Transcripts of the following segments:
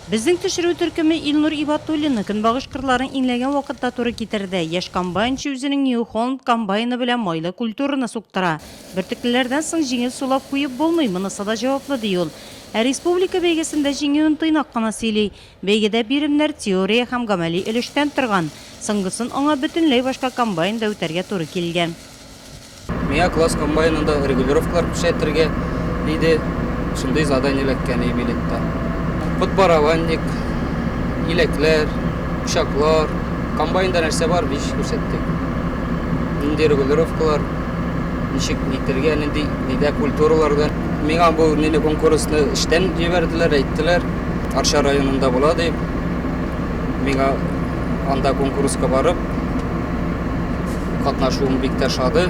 Безнең төшерү төркеме Илнур Ибатуллинны көнбагыш кырларын иңләгән вакытта туры китерде. Яшь комбайнчы үзенең New Holland комбайны белән майлы культураны суктыра. Бөртеклеләрдән соң җиңел сулап куеп булмый, монысы да җаваплы, ди ул. Ә республика бәйгесендә җиңүен тыйнак кына сөйли. Бәйгедә биремнәр теория һәм гамәли өлештән торган, соңгысын аңа бөтенләй башка комбайнда үтәргә туры килгән. Миңа класс комбайнында регулировкалар күрсәтергә, диде, шундый задание эләккән иде билетта. Подборованник, иләкләр, учаклар, комбайнда нәрсә бар, биш күрсәттек. Нинди регулировкалар, ничек итергә, нинди, нидә культураларда. Миңа бу мини-конкурсны эштән җибәрделәр, әйттеләр. Арча районында була дип, миңа анда конкурска барып катнашуым бик тә шады.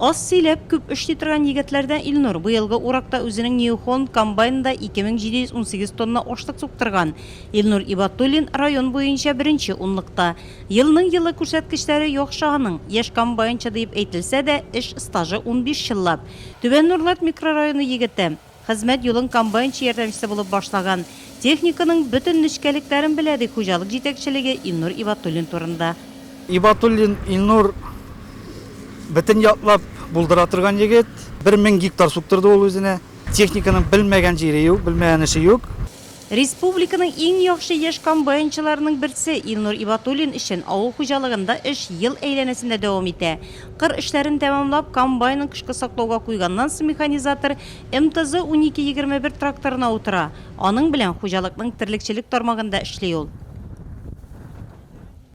Аз сөйләп, күп эшли торган егетләрдән Илнур быелгы уракта үзенең New Holland комбайнында 2718 тонна ашлык суктырган. Илнур Ибатуллин район буенча беренче унлыкта. Елның елы күрсәткечләре яхшы аның. Яшь комбайнчы диеп әйтелсә дә, эш стажы унбиш еллап. Түбән Нурлат микрорайоны егете. Хезмәт юлын комбайнчы ярдәмчесе булып башлаган, техниканың бөтен нечкәлекләрен белә, ди хуҗалык җитәкчелеге Илнур Ибатуллин турында. Ибатуллин Илнур бөтен яклап булдыра торган егет. Бер мең гектар суктырды ул үзенә. Техниканың белмәгән җире юк, белмәгән эше юк. Республиканың иң яхшы яшь комбайнчыларының берсе Илнур Ибатуллин өчен авыл хуҗалыгында эш ел әйләнәсендә дәвам итә. Кыр эшләрен тәмамлап, комбайнын кышкы саклауга куйганнан соң механизатор МТЗ-унике егерме бер тракторына утыра. Аның белән хуҗалыкның терлекчелек тармагында эшли ул.